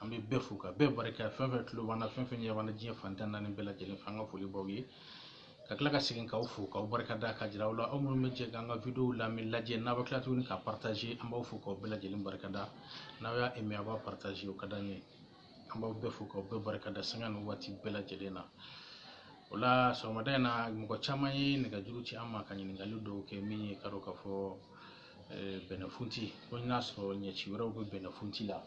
an bɛ bɛɛ fo ka bɛɛ barika fɛn fɛn tulo b'an na fɛn fɛn ɲɛ b'an na diɲɛ fan tan naani bɛɛ lajɛlen fɛ an ka foli b'aw ye ka tila ka segin k'aw fo k'aw barika da k'a jira aw la aw minnu bɛ jɛ k'an ka videow lamɛn lajɛ n'a bɛ tila tuguni ka partager an b'aw fo k'aw bɛɛ lajɛlen barika da n'aw y'a aimé a b'a partager o ka d'an ye an b'aw bɛɛ fo k'aw bɛɛ barika da sanga ni waati bɛɛ lajɛlen na o la sɔgɔmada in na mɔgɔ caman ye nɛgɛjuru ci an ma ka ɲininkali dɔw kɛ min ye k'a dɔn k'a fɔ bɛnɛfunti ko n'a sɔrɔ ɲɛci wɛrɛw bɛ bɛnɛfunti la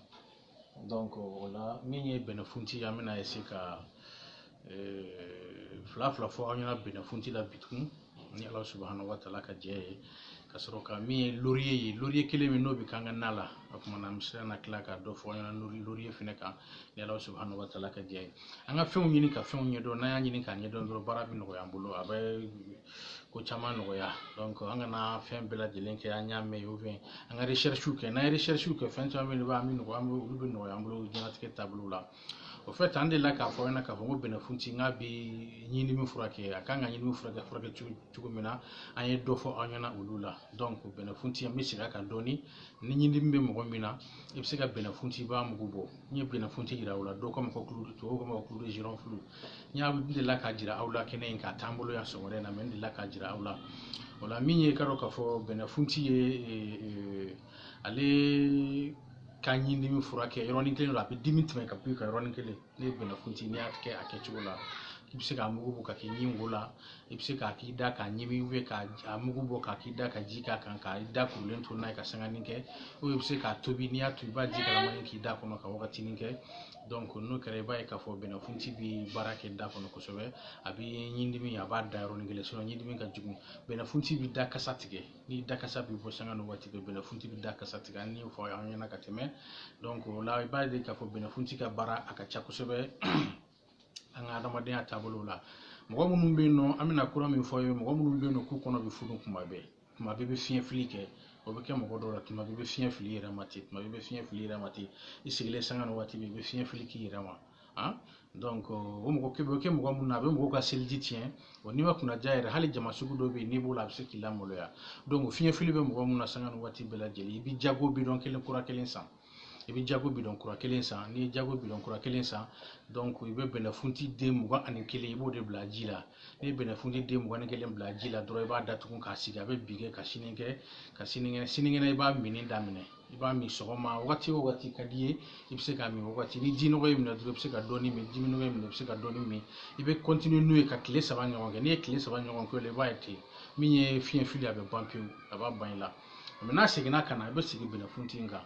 o la min ye bɛnɛfunti an bɛna se ka fila fila fɔ aw ɲɛna bɛnɛfunti la bi tun ni ala subahana wa taala ka jɛn ye ka sɔrɔ ka min ye loriye ye loriye kelen min n'o bɛ k'an ka na la o tuma na an bɛ se ka na tila ka dɔ fɔ aw ɲɛna loriye fɛnɛ kan ni ala subahana wa taala ka jɛn ye an ka fɛnw ɲini ka fɛnw ɲɛdɔn n'an y'a ɲini k'a ɲɛdɔn dɔrɔn baara bɛ nɔgɔya an bolo a bɛ ko caman nɔgɔya an kana fɛn bɛɛ lajɛlen kɛ an y'a mɛn o fɛn an ka recherche kɛ n'an ye recherche kɛ fɛn caman bɛ yen b'a min nɔgɔya an bɛ olu bɛ nɔgɔya an bolo diɲɛnatigɛ taabolo la au fait an delila k'a fɔ aw ɲɛna k'a fɔ ko bɛnɛfunti k'a bɛ ɲindimi furakɛ a kan ka ɲindimi furakɛ furakɛ cogo min na an ye dɔ fɔ aw ɲɛna olu la bɛnɛfunti an bɛ segin a kan dɔɔni ni ɲindimi bɛ mɔgɔ min na i bɛ se ka bɛnɛfunti b'a mugu bɔ n ye bɛnɛfunti yira aw la dɔw k'a ma ko tubabuw k'a ma ko ne delila k'a jira aw la kɛnɛ kan a t'an bolo yan sɔgɔmada in na mais n delila k'a jira aw la o la min ye i k'a dɔn k'a fɔ bɛnɛfunti ye ale ka ɲindimi furakɛ yɔrɔnin kelen don a bɛ dimi tɛmɛ ka bɔ i kan yɔrɔnin kelen ne ye bɛnɛfunti n'i y'a kɛ a kɛcogo la i bɛ se k'a mugu bɔ k'a k'i ɲin wo la i bɛ se k'a k'i da k'a ɲimi ou bien k'a mugu bɔ k'a k'i da ka ji k'a kan k'i da kurulen to n'a ye ka sanganin kɛ i bɛ se k'a tobi n'i y'a tobi i b'a ji kalaman k'i da kɔnɔ ka wagatinin kɛ donc n'o kɛra i b'a ye k'a fɔ bɛnɛfunti bɛ baara kɛ da kɔnɔ kosɛbɛ a bɛ ɲindimi a b'a da yɔrɔnin kelen sinon ɲindimi ka jugu bɛnɛfunti bɛ da kasa tigɛ n'i da kasa bɛ bɔ sanga ni waati bɛɛ bɛnɛfunti bɛ da kasa tigɛ an y'o fɔ aw ɲɛna ka tɛmɛ donc o la i b'a ye k'a fɔ bɛnɛfunti ka baara a ka ca kosɛbɛ an ka adamadenya taabolo la mɔgɔ minnu bɛ yen nɔ an bɛna kura min fɔ o ye mɔgɔ minnu bɛ yen nɔ k'u kɔnɔ bɛ funu kuma bɛɛ tuma bɛɛ bɛ fiɲɛ fili kɛ o bɛ kɛ mɔgɔ dɔw la tuma bɛɛ i bɛ fiɲɛ fili i yɛrɛ ma ten tuma bɛɛ i bɛ fiɲɛ fili i yɛrɛ ma ten i sigilen sanga ni waati bɛɛ i bɛ fiɲɛ fili k'i yɛrɛ ma han donc o mɔgɔ kɛ bɛ kɛ mɔgɔ min na a bɛ mɔgɔ ka seliji tiɲɛ wa n'i ma kunnandiya yɛrɛ hali jama sugu dɔ bɛ yen n'i b'o la a bɛ se k'i lamaloya donc fiɲɛ fili bɛ mɔgɔ min na sanga ni waati bɛɛ lajɛlen i bɛ jago bidɔn kelen kura kelen san i bɛ jago bidɔn kura kelen san n'i ye jago bidɔn kura kelen san i bɛ bɛnɛfunti den mugan ani kelen i b'o de bila ji la n'i ye bɛnɛfunti den mugan ni kelen bila ji la dɔrɔn i b'a datugu k'a sigi a bɛ bi kɛ ka sini kɛ ka sinikɛnɛ sinikɛnɛ i b'a minni daminɛ i b'a min sɔgɔma wagati o wagati ka d'i ye i bɛ se k'a min wagati ni ji nɔgɔ y'i minɛ dɔrɔn i bɛ se ka dɔɔni min ji nɔgɔ y'i minɛ i bɛ se ka dɔɔni min i bɛ continuer n'o ye ka tile saba ɲɔgɔn kɛ n'i ye tile saba ɲɔgɔn kɛ o la i b'a ye ten min ye fiɲɛ fili a bɛ ban pewu a b'a ban i la mais n'a seginna ka na i bɛ segin bɛnɛfunti in kan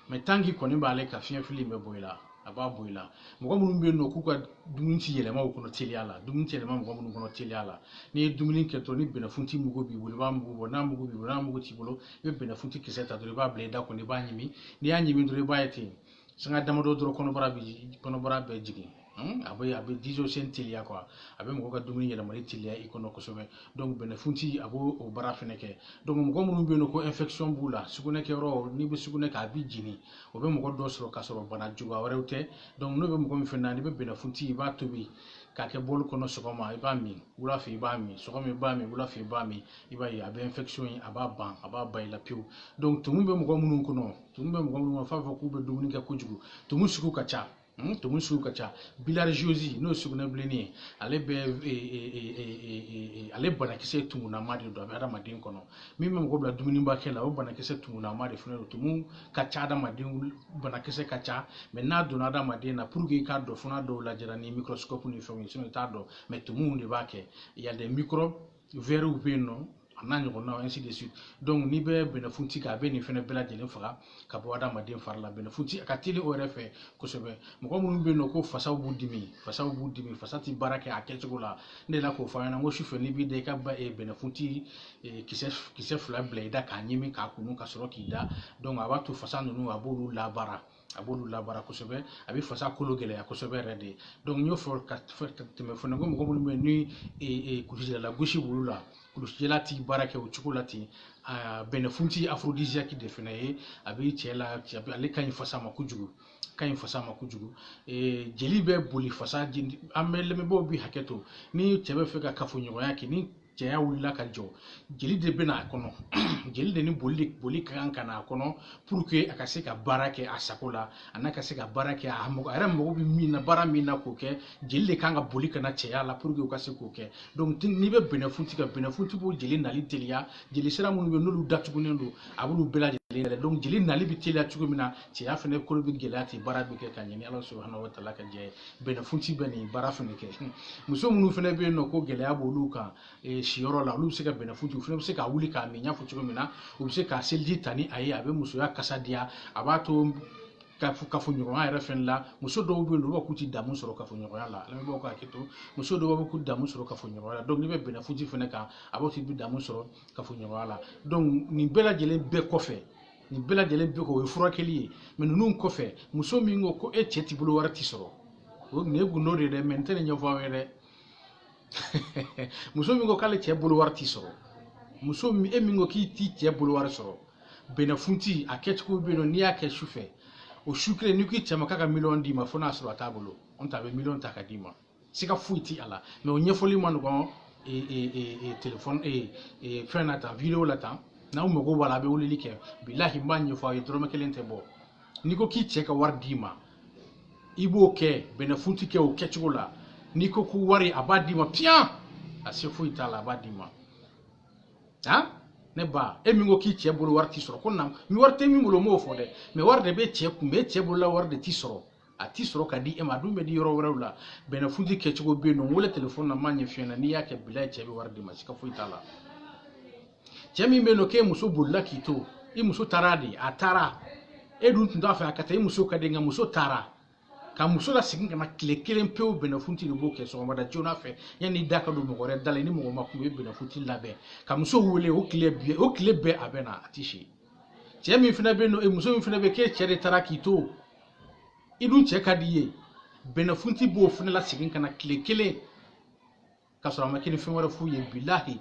mais tant que i kɔni b'ale kan fiɲɛ fili in bɛ bɔ i la a b'a bɔ i la mɔgɔ minnu bɛ yen nɔ k'u ka dumuni ti yɛlɛma u kɔnɔ teliya la dumuni ti yɛlɛma mɔgɔ minnu kɔnɔ teliya la n'i ye dumuni kɛ dɔrɔn ni bɛnɛfunti mugu b'i bolo i b'a mugu bɔ n'a mugu b'i bolo n'a mugu t'i bolo i bɛ bɛnɛfunti kisɛ ta dɔrɔn i b'a bila i da kɔnɔ i b'a ɲimi n'i y'a ɲimi dɔrɔn i b'a ye ten sanga damadɔ dɔrɔn kɔnɔbara bɛ kɔnɔbara bɛ jigin hmm? a bɛ a bɛ digestion teliya quoi a bɛ mɔgɔ ka dumuni yɛlɛmali teliya i kɔnɔ kosɛbɛ donc bɛnɛfunti a b'o o baara fɛnɛ kɛ donc mɔgɔ minnu bɛ yen nɔ ko infection b'u la sugunɛ kɛyɔrɔ n'i bɛ sugunɛ kɛ a b'i jeni o bɛ mɔgɔ dɔ sɔrɔ k'a sɔrɔ bana juguya wɛrɛw tɛ donc n'o bɛ mɔgɔ min fɛnɛ na n'i bɛ bɛnɛfunti i b'a tobi k'a kɛ bɔli kɔnɔ sɔgɔma i b'a min wula fɛ i b'a min sɔgɔma i b'a min wula fɛ i b'a min i b'a ye a bɛ infection in a b'a ban a b'a ban i la pewu donc tumu bɛ mɔgɔ minnu kɔnɔ tumu bɛ mɔgɔ minnu na f'a fɔ k'u bɛ dumuni kɛ kojugu tumu sugu ka ca Hmm, tumu sugu ka ca bilharziose n'o ye sugunɛbilennin ye ale bɛ e, e, e, ale banakisɛ tumunama de don a bɛ adamaden kɔnɔ min bɛ mɔgɔ bila dumunibakɛ la o banakisɛ tumunama de fana don tumu ka ca adamaden banakisɛ ka ca mais n'a donna adamaden na pour que i k'a dɔn fo n'a dɔw lajɛra ni microscope ni fɛnw ye sinon i t'a dɔn mais tumuw de b'a kɛ il y a des microbes wɛriw bɛ yen nɔ a n'a ɲɔgɔnnaw ainsi de suite donc n'i bɛ bɛnɛfunti kan a bɛ nin fɛnɛ bɛɛ lajɛlen faga ka bɔ adamaden fari la bɛnɛfunti a ka teli o yɛrɛ fɛ kosɛbɛ mɔgɔ minnu bɛ yen nɔ ko fasaw b'u dimi fasaw b'u dimi fasa tɛ baara kɛ a kɛcogo la ne la k'o fɔ an ɲɛna n ko sufɛ n'i b'i da i ka bɛnɛfunti kisɛ kisɛ fila bila i da k'a ɲimi k'a kunun ka sɔrɔ k'i da donc a b'a to fasa ninnu a b'olu labaara a b'olu labaara kosɛbɛ a bɛ fasa kolo gɛlɛya kosɛbɛ yɛrɛ de n y'o fɔ ka tɛmɛ fana ko mɔgɔ minnu bɛ yen ni e, e, kulusijala gosi b'olu la kulusijala ti baara kɛ o cogo la ten a bɛnɛfunti aphrodisiaque de fana ye a bɛ cɛ la ale ka ɲi fasa ma kojugu ka ɲi fasa ma kojugu e, jeli bɛ boli fasa an bɛ lamɛnbaaw bi hakɛ to ni cɛ bɛ fɛ ka kafoɲɔgɔnya kɛ ni cɛya wulila ka jɔ jeli de bɛ n'a kɔnɔ jeli de ni boli boli ka kan ka n'a kɔnɔ a ka se ka baara kɛ a sago la a n'a ka se ka baara kɛ a mɔgɔ a yɛrɛ mago bɛ min na baara min na k'o kɛ jeli de kan ka boli ka na cɛya la pour que u ka se k'o kɛ n'i bɛ bɛnɛfunti kan bɛnɛfunti b'o jeli nali teliya jeli sira minnu bɛ n'olu datugulen don a b'olu bɛɛ lajɛlen yɛlɛ donc jeli nali bɛ teliya cogo min na cɛya fana kolo bɛ gɛlɛya ten baara bɛ kɛ ka ɲɛ ni ala subahana wataala ka jɛ ye bɛnɛfunti bɛ nin baara fɛnɛ kɛ muso minnu fɛnɛ bɛ yen nɔ ko gɛlɛya b'olu kan eh, siyɔrɔ la olu bɛ se ka bɛnɛfunti u fɛnɛ bɛ se k'a wuli k'a min n y'a fɔ cogo min na u bɛ se ka seliji ta ni a ye a bɛ musoya kasa diya a b'a to kafoɲɔgɔnya yɛrɛ fɛnɛ la muso dɔw bɛ yen olu b'a k'u ti damu sɔrɔ kafoɲɔgɔnya la lamɛnbaaw ka hakɛ to muso dɔw b'a fɔ k'u damu sɔrɔ kafoɲɔgɔnya la donc n'i bɛ bɛnɛfunti fɛnɛ kan a b'a to i bɛ damu sɔrɔ kafoɲɔgɔnya la donc nin bɛɛ lajɛlen bɛɛ kɔfɛ nin bɛɛ lajɛlen bɛ kɛ o ye furakɛli ye mɛ ninnu kɔfɛ muso min ko ko e cɛ t'i bolo wari ti sɔrɔ o nin ye gundo de ye dɛ mɛ n tɛ nin ɲɛfɔ aw ye dɛ muso min ko k'ale cɛ bolo wari ti sɔrɔ muso e min ko k'i t'i cɛ bolo wari sɔrɔ bɛnɛfunti a kɛcogo bɛ yen nɔ n'i y'a kɛ su fɛ o su kelen n'i k'i cɛ ma k'a ka miliyɔn d'i ma fo n'a sɔrɔ a t'a bolo nɔntɛ a bɛ miliyɔn ta ka d'i ma siga foyi ti a la mɛ o ɲɛfɔli ma nɔgɔn telefɔni fɛn na tan video la tan n'aw mago b'a la a bɛ weleli kɛ bilahi n b'a ɲɛfɔ aw ye dɔrɔmɛ kelen tɛ bɔ n'i ko k'i cɛ ka wari d'i ma i b'o kɛ bɛnɛfunti kɛ o kɛcogo la n'i ko ko wari a b'a d'i ma piyan a se foyi t'a la a b'a d'i ma han ne ba e min ko k'i cɛ bolo wari ti sɔrɔ ko na ni wari tɛ min bolo n m'o fɔ dɛ mɛ wari de bɛ cɛ kun bɛ cɛ bolola wari de ti sɔrɔ a ti sɔrɔ ka di e ma a dun bɛ di yɔrɔ wɛrɛw la bɛnɛfunti kɛcogo bɛ yen nɔ n wele telefɔni na n b'a ɲɛf'i ɲɛna n'i y'a kɛ bilahi cɛ bɛ wari d'i ma siga foyi t'a la cɛ min bɛ yen nɔ k'e muso bolila k'i to i muso taara de a taara e dun tun t'a fɛ a ka taa i muso ka di nka muso taara ka muso lasegin ka na tile kelen pewu bɛnɛfunti de b'o kɛ sɔgɔmada joona fɛ yanni da ka don mɔgɔ wɛrɛ da la ni mɔgɔ ma kunun i bɛ bɛnɛfunti labɛn ka muso wele o tile bɛɛ o tile bɛɛ a bɛ na a ti si cɛ min fana bɛ yen nɔ muso min fana bɛ yen k'e cɛ de taara k'i to i dun cɛ ka di i ye bɛnɛfunti b'o fana lasegin ka na tile kelen ka sɔrɔ a ma kɛ ni fɛn wɛrɛ foyi ye bilahi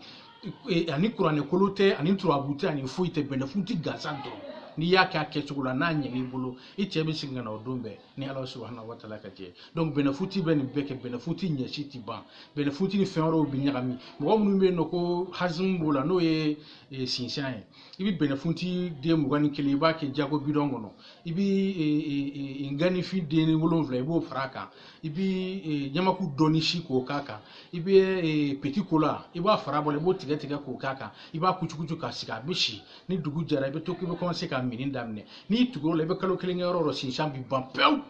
a ni kuranɛ kolo tɛ a ni turabu tɛ a ni foyi tɛ bɛnɛfunti gansan dɔrɔn n'i y'a kɛ a kɛcogo la n'a ɲɛn'i bolo i cɛ bɛ segin ka na o don bɛɛ ni ala subahana wa taala ka jɛ donc bɛnɛfunti bɛ nin bɛɛ kɛ bɛnɛfunti ɲɛci tɛ ban bɛnɛfunti ni fɛn wɛrɛw bɛ ɲagami mɔgɔ minnu bɛ yen nɔ ko hazimu b'o la n'o ye sinsan ye i bɛ bɛnɛfunti den mugan ni kelen i b'a kɛ jago bidɔn kɔnɔ i bɛ e, e, e, nganifin den wolonwula i b'o fara a kan i bɛ ɲamaku dɔɔni si k'o k'a kan i bɛ petit cola i b'a fara bɔ i b'o tigɛ tigɛ k'o k'a kan i b'a kucukucu k'a sigi a bɛ si ni dugu jɛra i bɛ to k'i bɛ kɔmanse k'a minni daminɛ n'i tugura o la i bɛ kalo kelen kɛ yɔrɔ o yɔrɔ sinsan bɛ ban pewu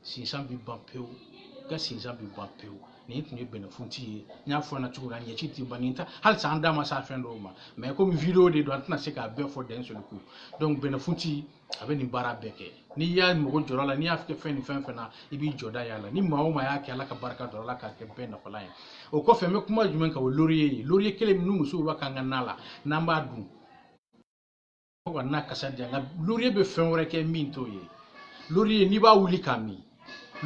sinsan bɛ ban pewu i ka sinsan bɛ ban pewu nin tun ye bɛnɛfunti ye n y'a fɔ ɲɛna cogo min na ɲɛci tɛ ban nin ta halisa an da ma s'a fɛn dɔw ma mɛ komi video de don an tɛna se k'a bɛɛ fɔ d'un seul coup donc bɛnɛfunti a bɛ nin baara bɛɛ kɛ n'i y'a mago jɔra a la n'i y'a kɛ fɛn ni fɛn fɛn na i b'i jɔda y'a la ni maa o maa y'a kɛ ala ka barika don a la k'a kɛ bɛɛ nafalan ye o kɔfɛ n bɛ kuma jumɛn kan o loriye ye loriye kelen min ni musow b'a k'an ka na la n'an b'a dun fo ka na kasa diya nka loriye bɛ fɛn wɛrɛ kɛ min t'o ye loriye n'i b'a wuli k'a min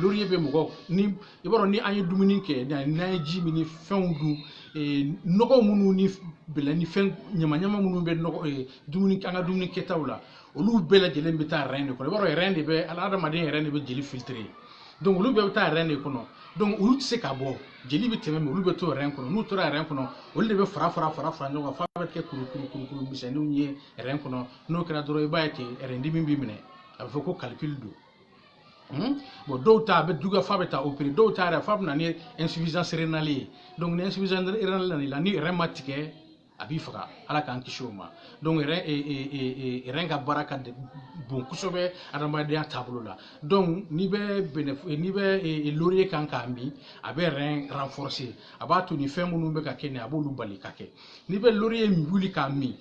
loriye bɛ mɔgɔ ni i b'a dɔn ni an ye dumuni kɛ n'an ye ji min ni fɛnw dun nɔgɔ minnu ni bɛlɛ ni fɛn ɲama ɲama minnu bɛ nɔgɔ dumuni an ka dumuni kɛtaw la olu bɛɛ lajɛlen bɛ taa rein de kɔnɔ i b'a dɔn rein de bɛ ala hadamaden rein de bɛ jeli filtrer donc olu bɛɛ bɛ taa rein de kɔnɔ donc olu tɛ se ka bɔ jeli bɛ tɛmɛ olu bɛ to rein kɔnɔ n'u tora rein kɔnɔ olu de bɛ fara fara fara fara ɲɔgɔn kan f'a bɛ kɛ kuru kuru kuru kuru misɛnninw ye rein kɔnɔ n'o kɛra dɔrɔn i b'a ye ten rein dimi b'i minɛ a bɛ fɔ ko calcul don Hmm? bon dɔw ta a bɛ juguya f'a bɛ taa opérer dɔw ta yɛrɛ f'a bɛ na ni insuffisance rénale ye donc ni insuffisance rénale nana i la ni rein ma tigɛ a b'i faga ala k'an kisi o ma donc rein e, e, e, ka baara ka bon kosɛbɛ adamadenya taabolo la donc n'i bɛ bɛnɛ n'i bɛ laurier kan k'a min a bɛ rein renforcer a b'a to nin fɛn minnu bɛ ka kɛ nin a b'olu bali ka kɛ n'i bɛ laurier wuli k'a min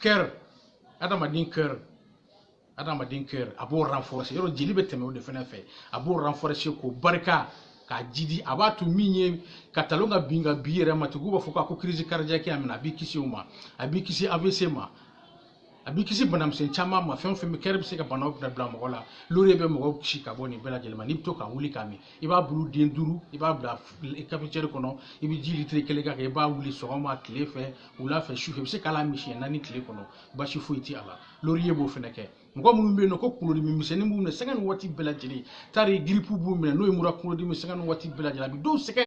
cœur adamaden cœur adamaden cœur a b'o renforcer yɔrɔ jeli bɛ tɛmɛ o de fana fɛ a b'o renforcer k'o barika k'a jidi a b'a to min ye ka talon ka bin ka bin i yɛrɛ ma tugu b'a fɔ ko crise cardiaque a minɛ a b'i kisi o ma a b'i kisi AVC ma a b'i kisi banamisɛn caman ma fɛn o fɛn bɛ cœur bɛ se ka banaw bila bila mɔgɔ la laurier bɛ mɔgɔw kisi ka bɔ nin bɛɛ lajɛlen ma n'i bɛ to ka wuli k'a min i b'a bulu den duuru i b'a bila cafetière kɔnɔ i bɛ ji litiri kelen k'a kan i b'a wuli sɔgɔma tile fɛ wula fɛ sufɛ i bɛ se k'a lamin siɲɛ naani tile kɔnɔ basi foyi tɛ a la laurier b'o fɛnɛ kɛ mɔgɔ minnu bɛ yen nɔ ko kunkolodimi misɛnnin b'u minɛ sanga ni waati bɛɛ lajɛlen tari grippe b'u minɛ n'o ye mura kunkolodimi sanga ni waati bɛɛ lajɛlen a bɛ dɔw sɛgɛn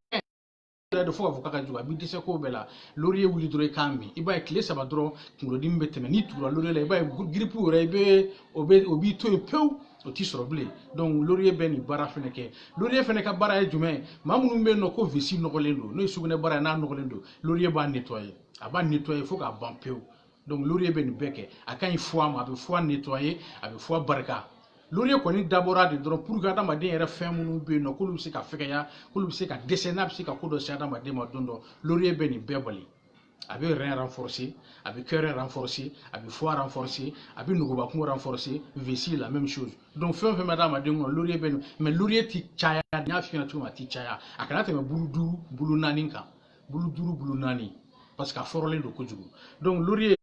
de fo k'a fɔ k'a ka jugu a b'i dɛsɛ ko bɛɛ la laurier wuli dɔrɔn i k'a min i b'a ye tile saba dɔrɔn kunkolodimi bɛ tɛmɛ n'i tugura laurier la i b'a ye grippe yɛrɛ i bɛ o bɛ o b'i to yen pewu o ti sɔrɔ bilen donc laurier bɛ nin baara fɛnɛ kɛ laurier fɛnɛ ka baara ye jumɛn ye maa minnu bɛ yen nɔ ko vessie nɔgɔlen don n'o ye sugunɛbara ye n'a nɔgɔlen don laurier b'a nettoyer a b'a nettoyer fo k'a ban pewu donc laurier bɛ nin bɛɛ kɛ a ka ɲi foie ma a bɛ foie nettoyer a bɛ foie barika laurier kɔni dabɔra de dɔrɔn pour que adamaden yɛrɛ fɛn minnu bɛ yen nɔ k'olu bɛ se ka fɛgɛya k'olu bɛ se ka dɛsɛ n'a bɛ se ka ko dɔ se adamaden ma don dɔ laurier bɛ nin bɛɛ bali a bɛ rein renforcer a bɛ cœur renforcer a bɛ foie renforcer a bɛ nugubakun renforcer vessie la même chose donc fɛn o fɛn bɛ adamaden kɔnɔ laurier bɛ nin mais laurier tɛ caya n y'a f'i ɲɛna cogo min a tɛ caya a kana tɛmɛ bulu duuru bulu naani kan bulu duuru bulu naani parce que a fɔrɔlen don kojugu donc laurier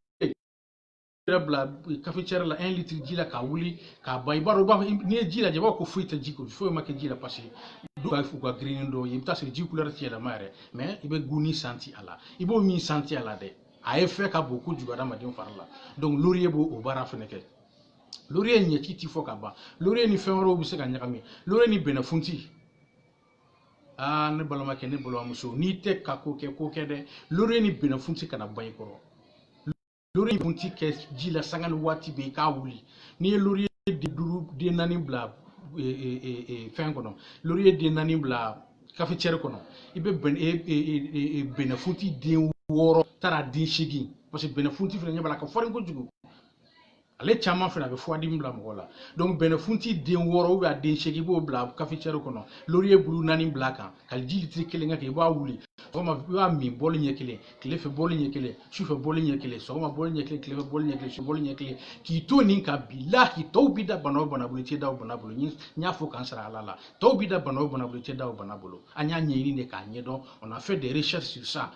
yɛrɛ bila cafetière la 1 litre ji la k'a wuli k'a ban i b'a dɔn u b'a fɔ n'i ye ji lajɛ i b'a fɔ ko foyi tɛ ji ko foyi ma kɛ ji la parce que dɔw b'a fɔ u ka girinni dɔw ye i bɛ taa sɔrɔ ji couleur tɛ yɛlɛma yɛrɛ mais i bɛ goût nin sentir a la i b'o min sentir a la dɛ a effet ka bon kojugu adamaden fari la donc laurier b'o o baara fɛnɛ kɛ laurier ɲɛci ti fɔ ka ban laurier ni fɛn wɛrɛw bɛ se ka ɲagami laurier ni bɛnɛfunti aa ne balimakɛ ne balimamuso n'i tɛ ka ko kɛ ko kɛ dɛ laurier ni bɛnɛfunti kana ban i kɔrɔ laurier ni bɛnɛfunti kɛ ji la sanga ni waati bɛɛ i k'a wuli n'i ye laurier den duuru den naani bila e, e, e, fɛn kɔnɔ laurier den naani bila cafetière kɔnɔ i bɛ bɛnɛfunti den wɔɔrɔ tari den seegin parce que bɛnɛfunti fana ɲɛ b'a la ka farin kojugu ale caman fana a bɛ furudimi bila mɔgɔ la donc bɛnɛfunti den wɔɔrɔ ou bien a den seegin i b'o bila cafetière kɔnɔ laurier bulu naani bila a kan ka ji litiri kelen k'a kan i b'a wuli sɔgɔma i b'a min bɔli ɲɛ kelen tile fɛ bɔli ɲɛ kelen sufɛ bɔli ɲɛ kelen sɔgɔma bɔli ɲɛ kelen tile fɛ bɔli ɲɛ kelen su bɔli ɲɛ kelen k'i to nin kan bilahi tɔw bi da bana o bana bolo i tɛ da o bana bolo n y'a fɔ k'an sara ala la tɔw bi da bana o bana bolo i tɛ da o bana bolo an y'a ɲɛɲini de k'a ɲɛdɔn on a fait des recherches sur ça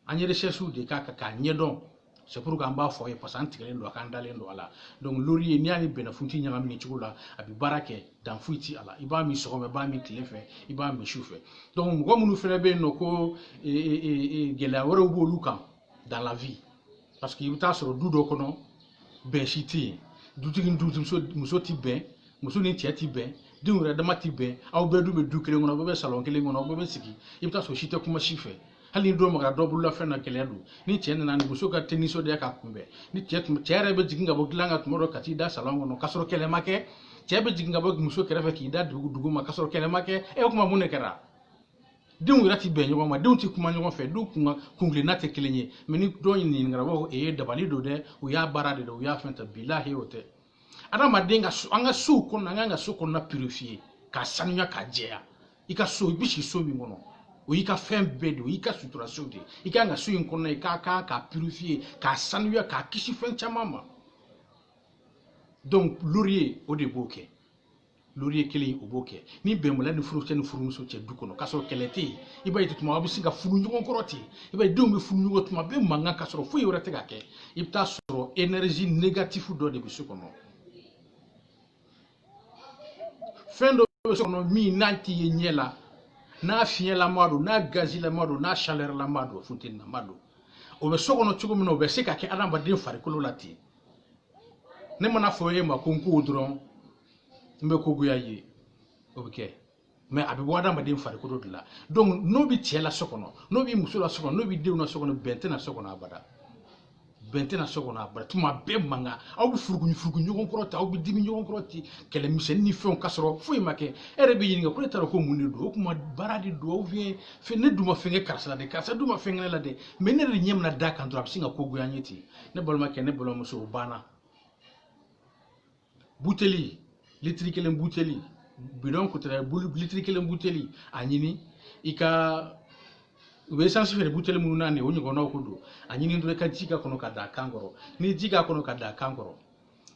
an ye recherche de k'a kan k'a ɲɛdɔn c'est pourquoi an b'a fɔ ye parce que an tigɛlen don a kan an dalen don a la donc laurier n'i y'a ni bɛnɛfunti ɲagami nin cogo la a bɛ baara kɛ dan foyi ti a la i b'a min sɔgɔma i b'a min tile fɛ i b'a min su fɛ donc mɔgɔ minnu fana bɛ yen n'o ko gɛlɛya wɛrɛw b'olu kan dans la vie paseke i bɛ taa sɔrɔ du dɔ kɔnɔ bɛn si tɛ yen dutigi ni dutigi muso tɛ bɛn muso ni cɛ tɛ bɛn denw yɛrɛ dama tɛ bɛn aw bɛɛ dun bɛ du kelen kɔnɔ aw bɛɛ bɛ salɔn kelen kɔnɔ aw bɛɛ bɛ sigi i bɛ taa sɔrɔ si tɛ kuma si fɛ hali ni dɔ magara dɔ bolola fɛn na gɛlɛya don ni cɛ nana ni muso ka tɛ nisɔndiya k'a kunbɛn ni cɛ tun cɛ yɛrɛ bɛ jigin ka bɔ dilan kan tuma dɔ ka t'i da salɔn kɔnɔ k'a sɔrɔ kɛlɛ ma kɛ cɛ bɛ jigin ka bɔ muso kɛrɛfɛ k'i da dugu duguma k'a sɔrɔ kɛlɛ ma kɛ e kuma mun de kɛra denw yɛrɛ ti bɛn ɲɔgɔn ma denw ti kuma ɲɔgɔn fɛ du kun kuntilenna tɛ kelen ye mɛ ni dɔ ɲininkara a b'a fɔ e ye dabali don dɛ u y'a baara de dɛ u y'a fɛn ta bilahi o tɛ adamaden ka kan ka so kɔnɔna an kan ka so kɔnɔna pirifiye k'a sanuya k'a jɛya i ka so i bi si so min kɔnɔ o y'i ka fɛn bɛɛ de o y'i ka sutura so de i kan ka so in kɔnɔna i ka kan k'a pirifiye k'a sanuya k'a kisi fɛn caman ma donc laurier o de b'o kɛ laurier kelen o b'o kɛ ni bɛnbaliya ni furucɛ ni furumuso cɛ du kɔnɔ k'a sɔrɔ kɛlɛ tɛ yen i b'a ye tuma aw bɛ sin ka furugu ɲɔgɔn kɔrɔ ten i b'a ye denw bɛ furugu ɲɔgɔn tuma bɛɛ mankan k'a sɔrɔ foyi wɛrɛ tɛ ka kɛ i bɛ taa sɔrɔ énergie négatif dɔ de bɛ so kɔnɔ fɛn dɔ bɛ so kɔnɔ min n'a ti ye ɲɛ la n'a fiɲɛlama don n'a gazilama don n'a chalɛrlama don funteninama don o bɛ so kɔnɔ cogo min na o bɛ se ka kɛ adamaden farikolo la ten ne mana a fɔ e ma ko n ko dɔrɔn n bɛ ko goya e ye o bɛ kɛ mɛ a bɛ bɔ adamaden farikolo de la donc n'o bɛ cɛ la so kɔnɔ n'o bɛ muso la so kɔnɔ n'o bɛ denw na so kɔnɔ bɛn tɛ na so kɔnɔ abada bɛn tɛ na so kɔnɔ abada tuma bɛɛ mankan aw bɛ furugu furugu ɲɔgɔn kɔrɔ ten aw bɛ dimi ɲɔgɔn kɔrɔ ten kɛlɛ misɛnnin ni fɛnw k'a sɔrɔ foyi ma kɛ e yɛrɛ b'i ɲininka ko ne taara ko mun de don o tuma baara de don ou bien fɛn ne dun ma fɛn kɛ karisa la dɛ karisa dun ma fɛn kɛ ne la dɛ mɛ ne yɛrɛ de ɲɛ mana d'a kan dɔrɔn a bɛ sin ka ko goya n ye ten ne balimakɛ ne balimamuso o banna buteli litiri kelen buteli bidɔn ko tɛ dɛ bulu litiri kelen buteli a ɲini i ka u bɛ esansi feere buteli minnu na nin o ɲɔgɔnnaw ko don a ɲini dɔrɔn i ka ji k'a kɔnɔ ka dan a kan kɔrɔ n'i ye ji k'a kɔnɔ ka dan a kan kɔrɔ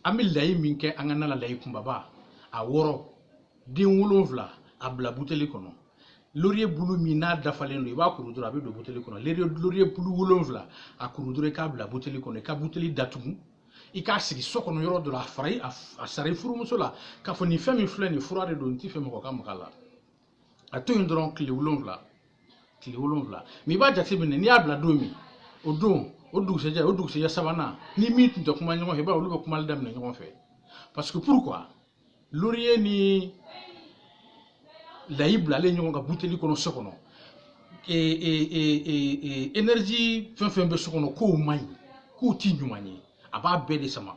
an bɛ layi min kɛ an ka na la layi kunbaba a wɔrɔ den wolonwula a bila buteli kɔnɔ loriye bulu min n'a dafalen don i b'a kuru dɔrɔn a bɛ don buteli kɔnɔ loriye bulu wolonwula a kuru dɔrɔn i k'a bila buteli kɔnɔ i ka buteli datugu i k'a sigi so kɔnɔ yɔrɔ dɔ la a fara a sara i furumuso la k'a fɔ nin fɛn min filɛ nin fura de don n t'a fɛ mɔgɔ ka maga a la a to yen dɔrɔn tile wolonwula tile wolonwula mais i b'a jateminɛ n'i y'a bila don min o don o dugusɛjɛ o dugusɛjɛ sabanan ni min tun tɛ kuma ɲɔgɔn fɛ i b'a ye olu bɛ kumali daminɛ ɲɔgɔn fɛ parce que pourquoi loriye ni layi bilalen ɲɔgɔn kan buteli kɔnɔ so kɔnɔ énergie fɛn fɛn bɛ so kɔnɔ k'o man ɲi k'o ti ɲuman ye a b'a bɛɛ de sama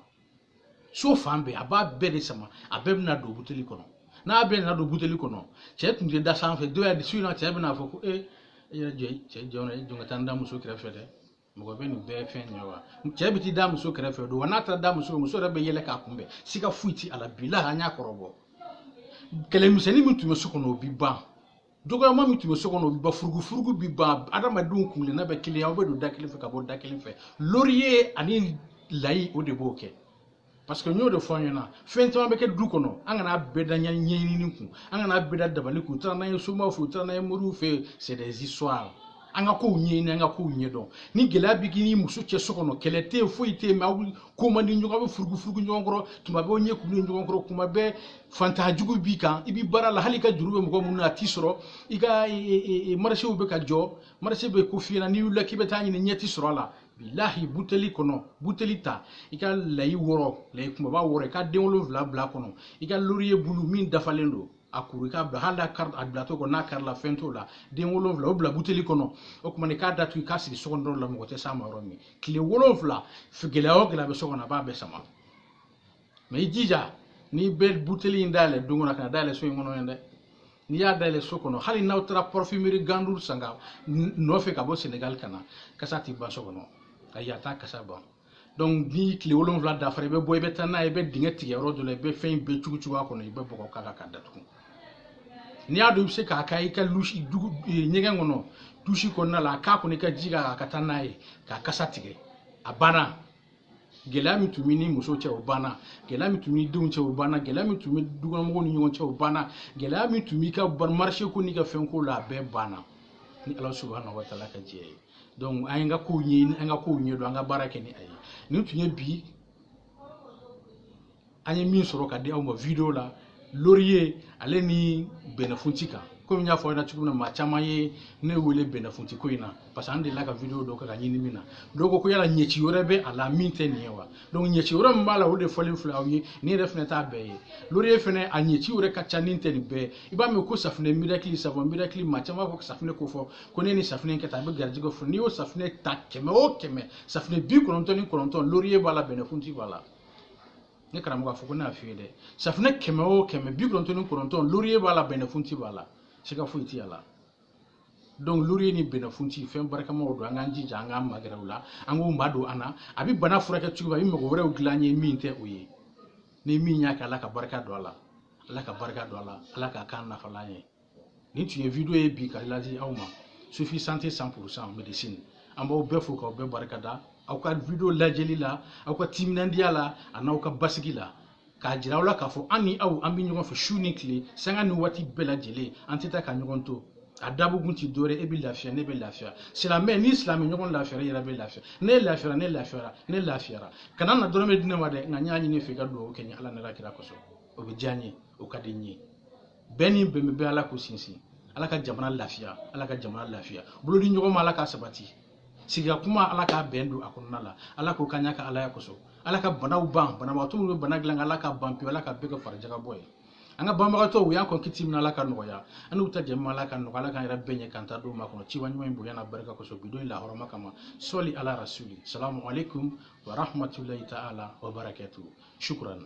so fan bɛɛ a b'a bɛɛ de sama a bɛɛ bɛna don buteli kɔnɔ n'a bɛɛ nana don buteli kɔnɔ cɛ tun tɛ da sanfɛ dɔ y'a di su in na cɛ bɛna fɔ ko ee e yɛrɛ jɔ cɛ jɔ jɔ ka taa n da muso kɛrɛfɛ dɛ mɔgɔ bɛ nin bɛɛ fɔ n ye wa cɛ bɛ t'i da muso kɛrɛfɛ o don wa n'a taara da muso muso yɛrɛ bɛ yɛlɛ k'a kunbɛn siga foyi ti a la bilahi an y'a kɔrɔbɔ kɛlɛmisɛnnin min tun bɛ so kɔnɔ o bi ban dɔgɔyama min tun bɛ so kɔnɔ o bi ban furugufurugu bi ban adamadenw kunkelenna bɛ kelen aw bɛ don da kelen fɛ ka bɔ da kelen fɛ loriye ani layi o de b'o kɛ parce que n y'o de fɔ an ɲɛna fɛn caman bɛ kɛ du kɔnɔ an kana bɛɛ da ɲɛɲini kun an kana bɛɛ da dabali kun u taara n'an ye somaw fɛ u taara n'an ye moriw fɛ c'est des histoires an ka kow ɲɛɲini an ka kow ɲɛdɔn ni gɛlɛya bɛ k'i ni muso cɛ so kɔnɔ kɛlɛ tɛ yen foyi tɛ yen mais aw ko man di ɲɔgɔn aw bɛ furugufurugu ɲɔgɔn kɔrɔ tuma bɛɛ aw ɲɛ kurulen ɲɔgɔn kɔrɔ tuma bɛɛ fantan jugu b'i kan i bɛ baara la hali i ka juru bɛ mɔgɔ minnu na a ti sɔrɔ i ka marché bɛ ka jɔ marché bɛ kof'i ɲɛna n'i wulila k'i bɛ taa ɲini ɲɛ ti sɔrɔ a la bilahi buteli kɔnɔ buteli ta i ka layi wɔrɔ layi kunbaba wɔrɔ i ka den wolonwula bila kɔnɔ i ka loriye bulu min dafalen don a kuru i k'a bila hali a bilatɔ kɔnɔ n'a karila fɛn t'o la den wolonwula o bila buteli kɔnɔ o tuma i k'a datugu i k'a sigi so kɔnɔ yɔrɔ la mɔgɔ tɛ s'a ma yɔrɔ min tile wolonwula gɛlɛya o gɛlɛya bɛ so kɔnɔ a b'a bɛɛ sama mais i jija n'i bɛ buteli in dayɛlɛ don kɔnɔ kan'a dayɛlɛ so in kɔnɔ yen dɛ n'i y'a dayɛlɛ so kɔnɔ hali n'aw taara parfumerie gandour san ka nɔfɛ ka bɔ senegali ka na kasa ti ban so kɔnɔ ayi a t'a kasa ban donc ni tile wolonwula dafara i bɛ bɔ i bɛ taa n'a ye i bɛ dingɛ tigɛ yɔrɔ dɔ la i bɛ fɛn in bɛɛ cugu cugu a kɔnɔ i bɛ bɔgɔ k'a kan k'a datugu n'i y'a dɔn i bɛ se k'a kɛ i ka dusi dugu ɲɛgɛn kɔnɔ dusi kɔnɔna la a k'a kɔnɔ i ka ji k'a kan ka taa n'a ye k'a kasa tigɛ a banna gɛlɛya min tun b'i ni muso cɛ o banna gɛlɛya min tun bɛ denw cɛ o banna gɛlɛya min tun bɛ dukɔnɔmɔgɔw ni ɲɔgɔn cɛ o banna gɛlɛya min tun b'i ka marché ko n'i ka fɛn ko la a bɛɛ banna ni ala subahana wa taala ka jɛn ye donc an ye an ka kow ɲɛɲini an ka kow ɲɛdɔn an ka baara kɛ ni a ye nin tun ye bi an ye min sɔrɔ ka di aw ma video la loriye ale ni bɛnɛfunti kan komi n y'a fɔ aw ɲɛna cogo min na maa caman ye ne wele bɛnɛfunti ko in na parce que an delila ka video dɔ kɛ ka ɲini min na dɔw ko ko yala ɲɛci wɛrɛ bɛ a la min tɛ nin ye wa donc ɲɛci wɛrɛ min b'a la o de fɔlen filɛ aw ye nin yɛrɛ fɛnɛ t'a bɛɛ ye loriye fɛnɛ a ɲɛci wɛrɛ ka ca ni tɛ nin bɛɛ i b'a mɛn ko safinɛ miracle savon miracle maa caman b'a fɔ safinɛ ko fɔ ko ne ni safinɛ kɛ tan a bɛ garijɛgɛ fɔ n'i y'o safinɛ ta kɛmɛ o kɛmɛ safinɛ bi kɔnɔntɔn ni kɔnɔntɔn loriye b'a la bɛnɛfunti b'a la ne karamɔgɔ a fɔ ko ne y'a f'i ye dɛ safunɛ kɛmɛ o kɛmɛ bi kɔnɔntɔn ni kɔnɔntɔn loriye b'a la bɛnɛfunti b'a la siga foyi t'a la donc loriye ni bɛnɛfunti fɛn barikamaw don an k'an jija an k'an magɛrɛ u la an k'u madon an na a bɛ bana furakɛ cogo min a bɛ mago wɛrɛw dilan an ye min tɛ o ye ni min y'a kɛ ala ka barika don a la ala ka barika don a la ala k'a k'an nafalan ye nin tun ye video ye bi ka ladi aw ma sufi sante cent pourcent medecine an b'aw bɛɛ fo k'aw bɛɛ barika da aw ka video lajɛli la aw ka timinandiya la a n'aw ka basigi la k'a jira aw la k'a fɔ an ni aw an bɛ ɲɔgɔn fɛ su ni tile sanga ni waati bɛɛ lajɛlen an tɛ taa ka ɲɔgɔn to a dabɔkun ti dɔwɛrɛ e bɛ lafiya ne bɛ lafiya silamɛ n'i silamɛ ɲɔgɔn lafiyara i yɛrɛ bɛ lafiya ne lafiyara ne lafiyara ne lafiyara kana na dɔrɔmɛ di ne ma dɛ nka n y'a ɲini i fɛ i ka dugawu kɛ n ye ala n'ala kira kosɔn o bɛ diya n ye o ka di n ye bɛɛ ni bɛnbɛn bɛ ala k'u sinsin ala ka jamana lafiya ala ka jamana lafiya bolodi ɲɔgɔn ma ala k'a sabati sigi ka kuma ala ka bɛn don a kɔnɔna la ala k'o k'an y'a ka alaya kosɔn ala ka banaw ban banabagatɔ minnu bɛ bana dilan ala k'a ban pewu ala k'a bɛɛ kɛ farijagabɔ ye an ka banbagatɔw u y'an kɔn kiti min ala k'a nɔgɔya an n'u ta jɛ ma ala k'a nɔgɔya ala k'an yɛrɛ bɛɛ ɲɛ k'an ta don makɔnɔ kira ɲuman in bonya n'a barika kosɔn bi don in lahɔrɔma kama sɔli ala rasuli salamu alaikum wa rahmatulahi ta'ala wa barakatuhu shukran